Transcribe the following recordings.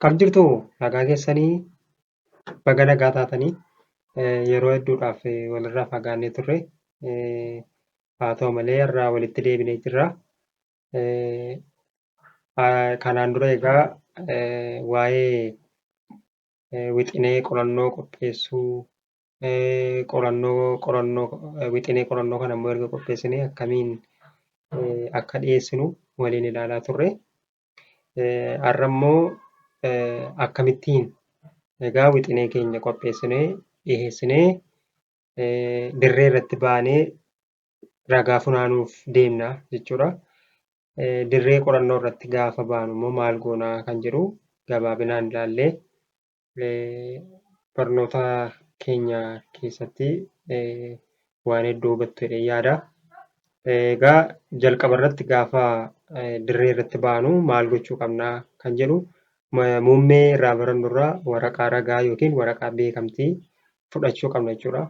Kam jirtu nagaa keessanii baga nagaa taatanii yeroo hedduudhaaf walirraa fagaannee turre haa ta'u malee irraa walitti deebinee jirra. Kanaan dura egaa waa'ee wixinee qorannoo qopheessuu, qorannoo qorannoo wixinee qorannoo kana immoo erga qopheessinee akkamiin akka dhiyeessinu waliin ilaalaa turre. Har'a immoo akkamittiin egaa wixinee keenya qopheessinee dhiyeessinee dirree irratti baanee ragaa funaanuuf deemna jechuudha. Dirree qorannoo irratti gaafa baanu immoo maal goonaa kan jedhu gabaabinaan ilaallee barnoota keenya keessatti waan hedduu hubattu jedhee yaada. Egaa jalqaba irratti gaafa dirree irratti baanu maal gochuu qabnaa kan jedhu muummee irraa barannu irraa waraqaa ragaa yookiin waraqaa beekamtii fudhachuu qabna jechuudha.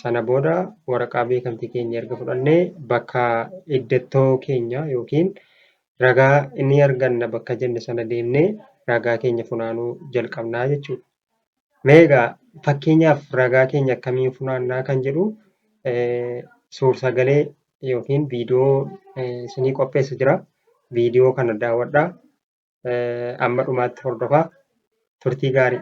Sana booda waraqaa beekamtii keenya erga fudhannee bakka iddattoo keenya yookiin ragaa ni arganna bakka jenne sana deemnee ragaa keenya funaanuu jalqabnaa jechuudha. Mee egaa fakkeenyaaf ragaa keenya akkamiin funaannaa kan jedhu suursagalee yookiin viidiyoo isinii qopheessa jira. Viidiyoo kana daawwadhaa. Amma dhumaatti hordofaa. Turtii gaarii.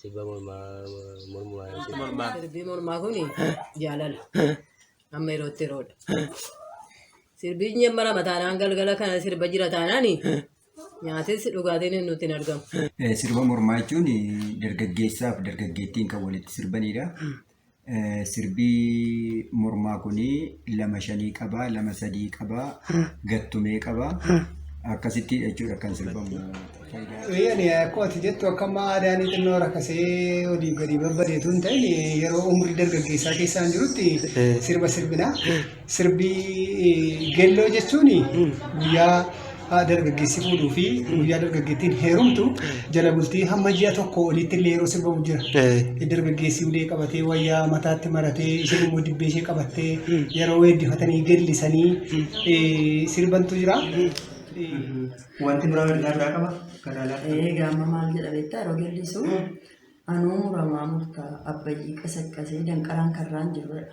Sirba mormaa mormaa. Sirbi mormaa. Sirbi mormaa kun jaalala. Amma yerootti yeroodha. Sirbi nyemmara mataanaan galgala kana sirba jira taanaan nyaatis dhugaatiin nutti hin argamu. Sirba mormaa jechuun dargaggeessaaf dargaggeettiin kan walitti sirbanidha. Sirbii mormaa kun lama shanii qaba, lama sadii qaba, gattumee qaba. Akkasitti jechuudha kan sirbamu. Eeyyani akkuma ati jettu akka amma aadaan xinnoo rakkasee olii gadi babbadeetu hin ta'in yeroo umrii dargaggeessaa keessaan jirutti sirba sirbina. Sirbii gelloo jechuun guyyaa dargaggeessi fuudhuu fi guyyaa dargaggeettiin heerumtu jala bultii hamma ji'a tokko olitti illee yeroo sirbamu jira. Dargaggeessi ulee qabatee wayyaa mataatti maratee isheen immoo dibbee ishee qabattee yeroo weeddifatanii gellisanii sirbantu jira. Wanti biraa ergaa biraa qaba. Egaa amma maal jedha beektaa yeroo gellisu Anuu muramaa murta abbayyii qasaqasee danqaraan karraan jirudha.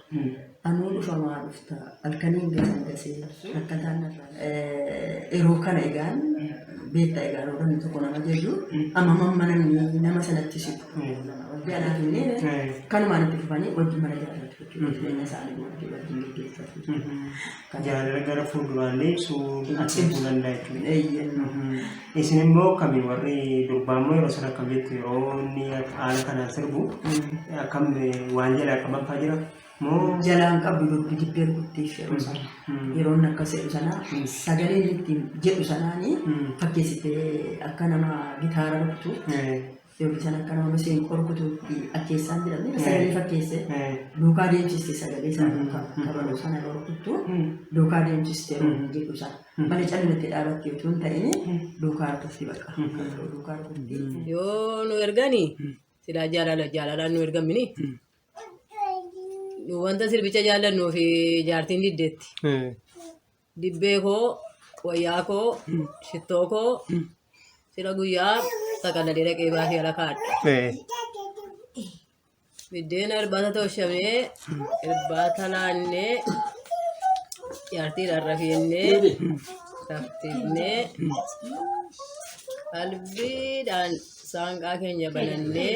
Anuu dhufamaa dhufta halkaniin gasan gasee rakkataan narraa. Yeroo kana egaan beekta egaan namni tokko nama jaju amma mamma namni nama sanatti siqu. Wajji anaa fi illee kanumaan itti fufanii wajji mana jaalatu jechuudha. Jireenya isaanii wajji wajjin gaggeeffatu. tajaajila gara fuulduraallee ibsuu adeemuu danda'a jechuudha. Isin immoo akkami warri durbaa immoo yeroo sana akkam jettu yeroo inni haala kanaan sirbu akkam waan jalaa qaban fa'aa jira moo jalaan qabdu dubbi dibbee rukuttee yeroo sana yeroo inni akkas jedhu sana sagaleen ittiin jedhu sanaanii fakkeessitee akka nama gitaara rukutu Yomi sana kana wani sin korkutu akkeessaan jedhamne Eh. sagalee fakkeesse Eh. duukaa deemsiste sagalee sana Mm. duukaa Mm. kabaluu sana dhorkuttu Mm. duukaa deemsiste Mm. roobni jedhu sana Mm. malee callimatte dhaabatte utuu hin ta'in Mm. duukaa dhufti bakka Mm. kabaluu duukaa dhufti. yoo nu ergani silaa jaalala jaalalaan nu ergamini Mm. nu wanta sirbicha jaallannu fi jaartiin diddeetti Eh. Dibbee koo, wayyaa koo, shittoo koo sila guyyaa xaqallalee dhaqee baasee ala kaadha. Eh, Biddeen irbaata toshamee, irbaata laannee, jaartiidhaan rafiinnee, raftiinnee, qalbiidhaan saanqaa keenya banannee,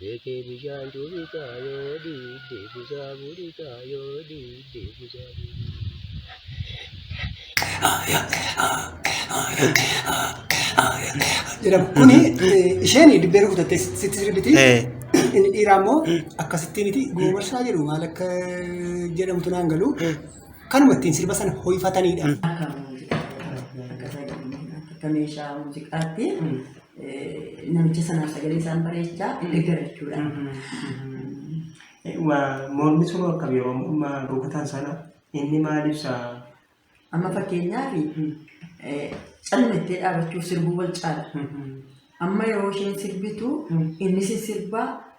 Beekee bishaan cuubisaa yoo dhiibde busaa buudhisaa yoo dhiibde busaa jedhamu. Kuni eh, isheen dibbee rukutattee sitti sirbiti. Eh. Inni dhiiraa immoo akkasittiin iti goobarsaa jedhu maal akka jedhamtu naan galu. Kanuma ittiin sirba sana hoifataniidha. Akka muuziqaa akka meeshaa muuziqaatti namicha sanaaf sagalee isaan bareechaa hin deggara jechuudha. Mormi sun akkam yeroo amma rukutan sana inni maal ibsa? Amma fakkeenyaaf calmattee dhaabachuu sirbuu wal caala. Amma yeroo isheen sirbitu inni sirbaa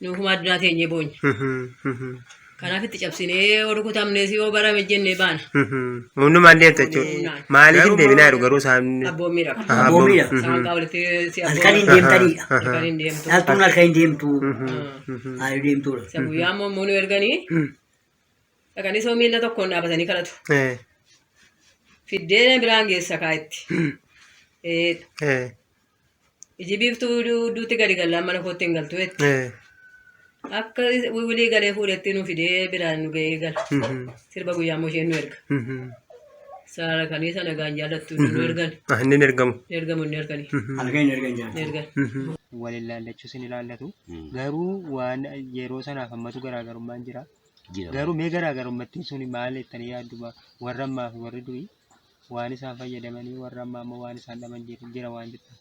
Nuuf humaa addunyaa teenyee boonya. Kanaaf itti cabsinee warri kutamnees yoo barame jennee baana. Hundumaan deemta jechuudha. Maaliif hin deebinaa jiru garuu isaan. Abboommii dha. Abboommii dha. Isaan kaa walitti si Halkan hin deemtaniidha. Halkan hin deemtu. Dhaltuun halkan hin deemtu. Haali deemtuudha. Isa guyyaa immoo immoo nu erganii dhaqanii soo miila tokkoon dhaabatanii kadhatu. Fiddeen biraan geessa kaa itti. Ee, Iji biiftuu duutti gadi gallaan mana kootti hin galtu jetti. Eh. Akka wiwilii galee fuudhetti nu fidee biraan nu ga'ee gala. Mhm. Sirba guyyaa immoo isheen nu erga. Mhm. Saala kanii sana gaan jaallattu nu ergan. Ah, inni hin ergamu. Nu ergamu inni ergani. Mhm. Halkan hin ergan jedhan. Nu ergan. Mhm. wal ilaallachuu sin ilaallatu Mm. garuu waan yeroo sanaaf ammatu garaagarummaan jira Jira. garuu mee garaagarummattiin sun maal jettanii yaadduma warra ammaa fi warri durii waan isaan fayyadamanii warra ammaa ammoo waan isaan dhaban jira jira waan jettu.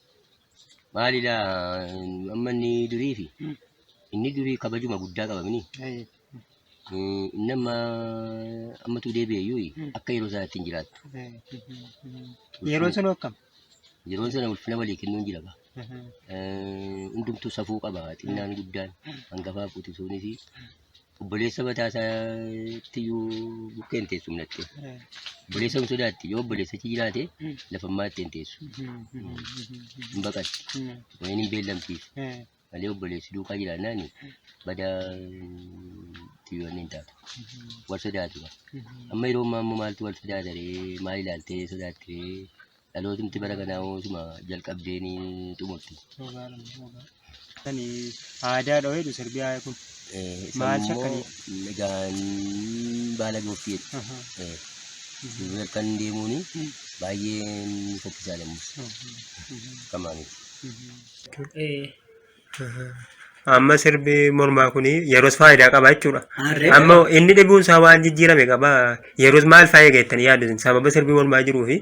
Maali laa amma inni durii fi Mm. inni durii kabajuma guddaa qabamini. Ayi. Eh, Inni amma ammatu deebi'eyyuu Mm. akka yeroo isaa ittiin jiraattu. Ayi. Yeroo sun hokkam. Yeroon sana ulfina walii kennuun jira gaa. Eh, Hundumtuu safuu qaba xinnaan guddaan hangafaaf quxisuunis Obboleessa mataa isaatti iyyuu bukkee hin teessu minatti. Obboleessa hin sodaatti. Yoo obboleessa achi jiraate lafa ammaa itti hin teessu. Hin baqatti. Wayini hin beellamtiif. Malee obboleessi duukaa jiraannaan bada xiyyoonni hin taatu. Wal sodaatu. Amma yeroo ammaa immoo maaltu wal sodaata ree? Maal ilaaltee sodaatti ree? Dhalootumti bara kanaa hoo suma jalqabdee ni xumurti. Kan aadaa dhawee dhu sirbiyaa kun. Eh, isa Maal immoo shakkanii? Egaan baala goofti jedhu. Eh, duuba halkan deemuun baay'ee ni fokkisaa lammus. Kamaaniif. Amma sirbi mormaa kun yeroos faayidaa qaba jechuudha. Harree Amma inni dhibuun isaa waan jijjiirame qaba. Yeroos maal fa'aa eegattan yaadu isin? sababa sirbi mormaa jiruu fi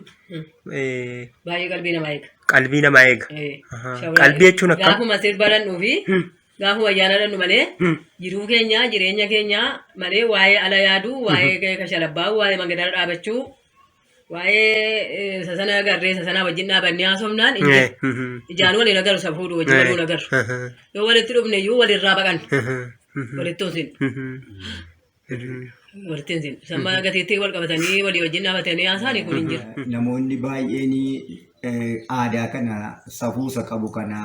eh, Baay'ee qalbii namaa eega. qalbii namaa eega. Eh, Ahaa. shawaa Qalbii eega. jechuun akkam? Gaafuma sirba dhandhu fi Hmm. gaafuma ayyaana dhandhu malee Hmm. jiruu keenya jireenya keenya malee waa'ee ala yaaduu waa'ee kashalabbaa waa'ee mangadaa dhaabachuu Waa'ee isa sana agarree isa sana wajjin dhaabannee haasofnaan hin Eh, jiru. mhm, Ijaan waliin agarru isa fuudhu wajjin Eh. waliin agarru. aha, Yoo walitti dhufne iyyuu walirraa baqan. aha, mhm, Walitti hin sinu. mhm, mhm. Walitti hin sinu. Samma gatiitti wal qabatanii walii wajjin dhaabatanii haasaanii kun hin jiru. namoonni baay'een eh, aadaa kana safuusa qabu kana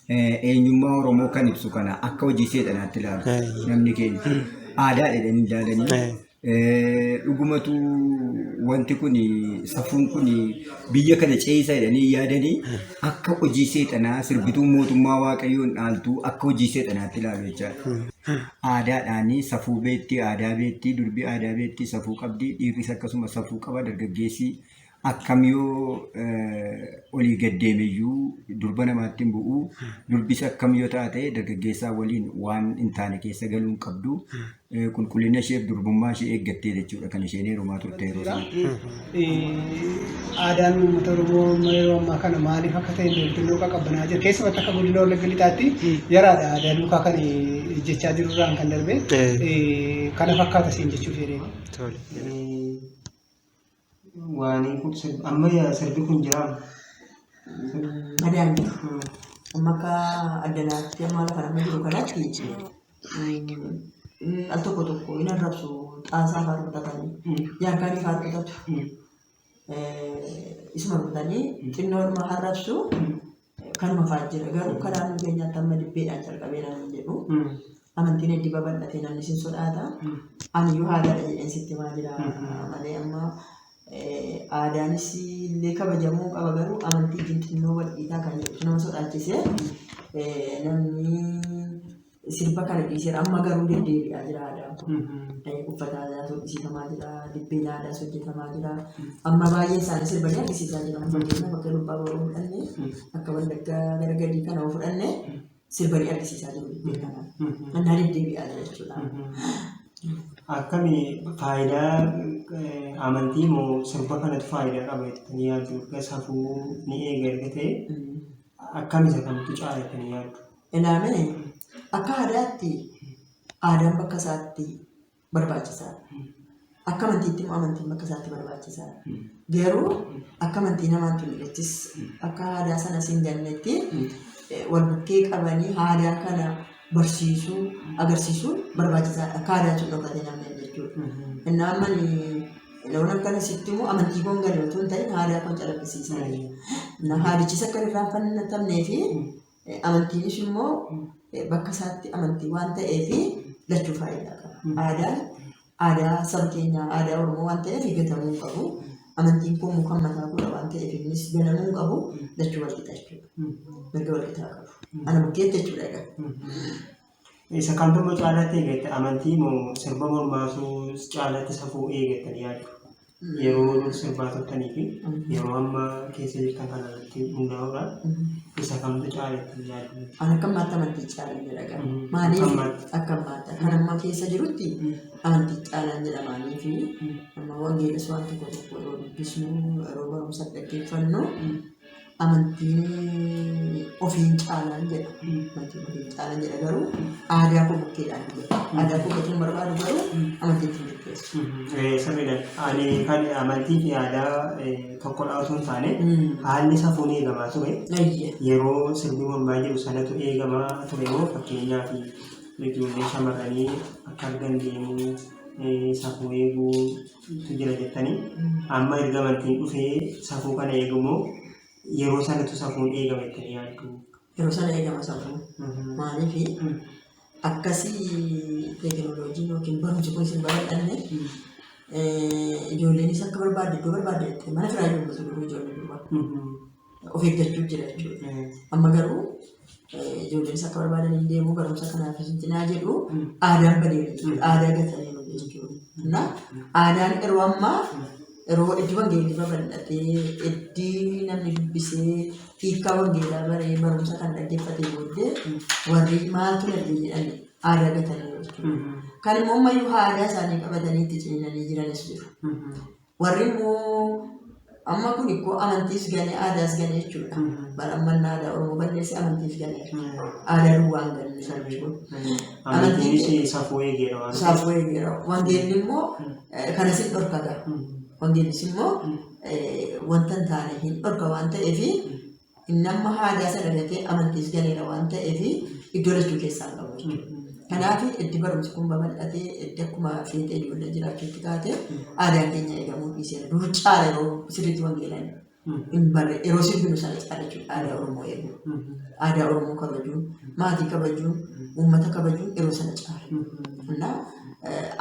eh, eenyummaa Oromoo kan ibsu kana akka hojii seexanaatti ilaalu Eh. namni keenya aadaa jedhanii ilaalanii Eh. Dhugumatu wanti kun safuun kun biyya kana ceesa jedhanii yaadanii akka hojii seexanaa sirbituu mootummaa waaqayyoon dhaaltuu akka hojii seexanaatti ilaalu jechaadha. Aadaadhaan safuu beektii, aadaa beektii, durbi aadaa beektii, safuu qabdi, dhiirris akkasuma safuu qaba, dargaggeessi Akkam yoo olii gad deemeyyuu durba namaatti hin bu'u. Durbis akkam yoo taate dargaggeessaa waliin waan hin taane keessa galuu hin qabdu. Qulqullina isheef durbummaa ishee eeggattee jechuudha kan isheen heerumaa turte yeroo sana. Aadaan uummata Oromoo amma yeroo ammaa kana maaliif akka ta'e beektuun qaqqabbanaa jira. Keessumatti akka godina Wallagga Lixaatti yaraadha aadaa duukaa kan jechaa jiru irraan kan darbe kana fakkaata siin jechuuf jedhee. Waanii kun sirbi amma yaa sirbi kun jiraama. Madaan jiru. Amma akka addanaatti amma lafa nama jiru kanatti mm, al tokko tokko hin arrabsu xaasaa fa'aa rukutatanii jaarkaanii fa'aa rukutatu. Eh, Isuma rukutanii xinnoodhuma harrabsu Kanuma fa'aa jira garuu karaa nu keenyaatti amma dibbeedhaan calqabeera nan jedhu. Amantiin heddii babal'atee namni sin sodaata. Aniyyuu haadhaadha jedheen sitti maa jira malee amma aadaanis illee kabajamuu qaba garuu amantii xinnoo walqiitaa kan jedhu nama sodaachise namni sirba kana dhiiseera amma garuu deddeebi'aa jira aadaan kun. Uffata aadaa hojjetamaa jira, dibbeen aadaas hojjetamaa jira. Amma baay'een isaanii sirbanii argisiisaa jira. Fakkeenyaaf akka dubbaa boroo fudhanne akka wallaggaa gara gadii kana yoo fudhanne sirbanii argisiisaa jiru dibbee kana. Annaa deddeebi'aa jira jechuudha. Akkami faayidaa eh, amantii moo sirba kanatu faayidaa qaba jettanii yaaddu? Erga safuu ni eega erga ta'e akkam isa kamtu caala jettanii yaaddu? Elaa mee akka aadaatti aadaan bakka isaatti barbaachisaa akka amantiitti immoo amantiin bakka isaatti barbaachisaa garuu akka amantii namaan tullachis akka aadaa sana siin gannetti eh, wal bukkee qabanii aadaa kana barsiisuu agarsiisuun barbaachisaadha akka aadaa sun dhokatee namni jechuudha. Innaa amma loon akkana sitti immoo amantii koon galee otoo hin ta'in aadaa koon calaqqisiisaa. Innaa haadichis akka irraa fannatamnee fi Amantiin ishii immoo bakka isaatti amantii waan ta'eef lachuu faayidaa qaba. Aadaan aadaa saba keenyaa aadaa Oromoo waan ta'eef gatamuu hin qabu. Amantiin kun muka mataa godha waan ta'eef innis ganamuu hin qabu. Lachuu wal qixa jechuudha. Mirga wal qixaa qabu. Ana bukkeetti jechuudha egaa. Isa kamtu immoo caalaatti eegatta amantii moo sirba mormaatu caalaatti safuu eegattan yaaddu? Yeroo dur sirbaa turtanii fi yeroo amma keessa jirtan kana irratti hundaa'uudhaan isa kamtu caalaatti yaaddu? An akka ammaatti amantii caalaan jedha gara. Mhm. Akka Maaliif ammaatti. akka ammaatti kan amma keessa jirutti Mm. amantii caalaan jedha maaliif Mm. amma wangeelas waan tokko tokko yeroo dubbisnu yeroo barumsa dhaggeeffannu Mm. amantiin ofiin caalaan jedha. Amantiin ofiin caalaan jedha garuu aadaa koo bukkeedhaan jedha. Aadaa koo gatiin barbaadu garuu amantiin ittiin bukkeessu. Sirriidha. Ani kan amantii fi aadaa tokkodha osoo hin taane haalli safuun eegamaa ture. Yeroo sirbi mormaa jiru sanatu eegamaa ture moo fakkeenyaaf ijoollee shamarranii akka argan deemuu safuu eeguu tu jira jettanii amma erga amantiin dhufee safuu kana eegamoo yeroo sanatu safuun eegama jettanii yaaddu. Yeroo sana eegama safuu. Maaliif akkasii teekinooloojiin yookiin barumsi kun isin babal'anne ijoolleenis akka barbaadde iddoo barbaadde jettee mana firaa ijoollee ijoollee durbaa. of eeggachuu jira jechuudha. Amma garuu ijoolleen akka barbaadan hin deemu barumsa kanaaf hin cinaa jedhu aadaan badeera jechuudha. Aadaa gataniiru jechuudha. Na aadaan yeroo ammaa yeroo iddoo wangeelli babal'atee iddii namni dubbisee hiikaa wangeelaa baree barumsa kan dhaggeeffatee booddee warri maaltu darbee jedhan aadaa gataniiru jechuudha. Kan immoo ammayyuu aadaa isaanii qabatanii itti ciniinanii jiranis jiru. Warri immoo amma kun ikkoo amantiis galee aadaas galee jechuudha. Mm. Bara amma inni aadaa Oromoo balleessee amantiif galee aadaa duwwaan galee sana jechuudha. Amantiinis safuu eegeera waan ta'eef. Saafuu eegeera. Wangeelli immoo Mm. eh, kana sin dhorkata. Mm. Wangeellis immoo Mm. eh, wanta hin taane hin dhorka waan ta'eef Inni amma haadaa sana gatee amantiis galeera waan ta'eef iddoo lachuu keessaa hin qabu jechuudha. Kanaaf eddi barumsi kun babal'atee eddi akkuma feetee ijoollee jiraachuutti kaatee aadaan keenya eegamuu dhiiseera. Dur caala yeroo sirriitti wangeelaan hin barre yeroo sirbinu sana caala jechuudha aadaa Oromoo eeguu. Aadaa Oromoo kabajuun, maatii kabajuun, uummata kabajuun yeroo sana caala. Kanaaf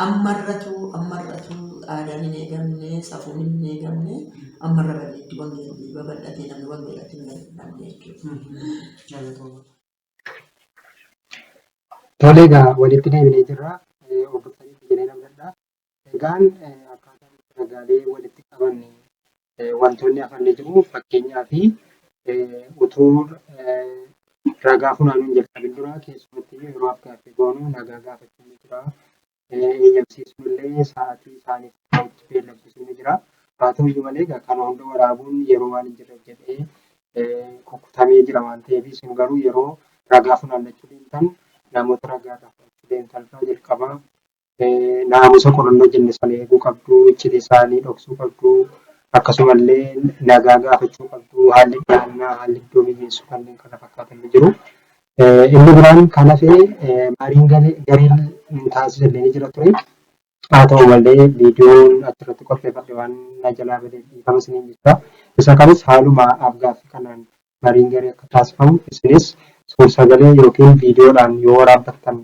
Ammarratu ammarratu aadaan hin eegamne, safuun hin eegamne ammarra badeetti wangeelli babal'atee namni wangeelatti hin gargaaramne jechuudha. Tole egaa walitti deebinee jirra. Eh, Obbo Sanitti jedhee namdadha. Egaan eh, akkaataan itti ragaalee walitti qabanne wantoonni hafan ni jiru. Fakkeenyaaf utuu ragaa funaanuun jalqabin dura keessumatti yeroo afgaaffii goonu nagaa gaafachuu ni jira. Eeyyamsiisuu illee sa'aatii isaaniif ta'utti beellamsiisuu ni jira. Haa ta'uyyuu malee egaa kana hunda waraabuun yeroo waan hin jirreef jedhee kukkutamee jira waan ta'eef isin garuu yeroo ragaa funaannachuu deemtan namoota ragaa irraa fudhachuu deemtan irraa jalqabaa naamusa qorannoo jenne sana eeguu qabdu, icciti isaanii dhoksuu qabdu, akkasuma illee nagaa gaafachuu qabdu, haalli dhiyaannaa, haalli iddoo mijeessu kanneen kana fakkaatan ni jiru. Inni biraan kan hafe mariin gareen taasisan ni jira ture. Haa ta'u malee viidiyoon achirratti qopheeffadhe waan na jalaa badeef dhiifama isiniin jechaa. Isa kanis haaluma afgaaffii kanaan mariin garee akka taasifamu isinis suur-sagalee yookiin viidiyoodhaan yoo waraabbattan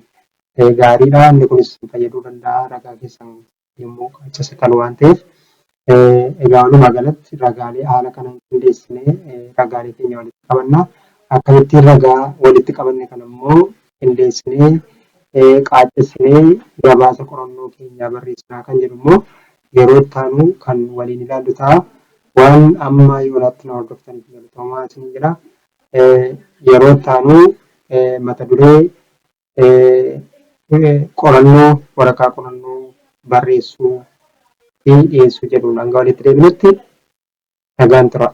gaariidha. Inni kunis isin fayyaduu danda'a ragaa keessan yommuu qaaccessitan waan ta'eef. Egaa walumaa galatti ragaalee haala kanaan qindeessinee ragaalee keenya walitti qabanna. Akkamittiin ragaa walitti qabanne kana immoo qindeessinee qaaccessinee gabaasa qorannoo keenyaa barreessinaa kan jedhu immoo yeroo itti aanu kan waliin ilaallu ta'a. Waan amma yoonaatti na hordoftaniif galatoomaa isiniin jedha. Yeroo itti aanu mata duree qorannoo waraqaa qorannoo barreessuu fi dhiyeessuu jedhuun hanga walitti deebinutti nagaan turaa.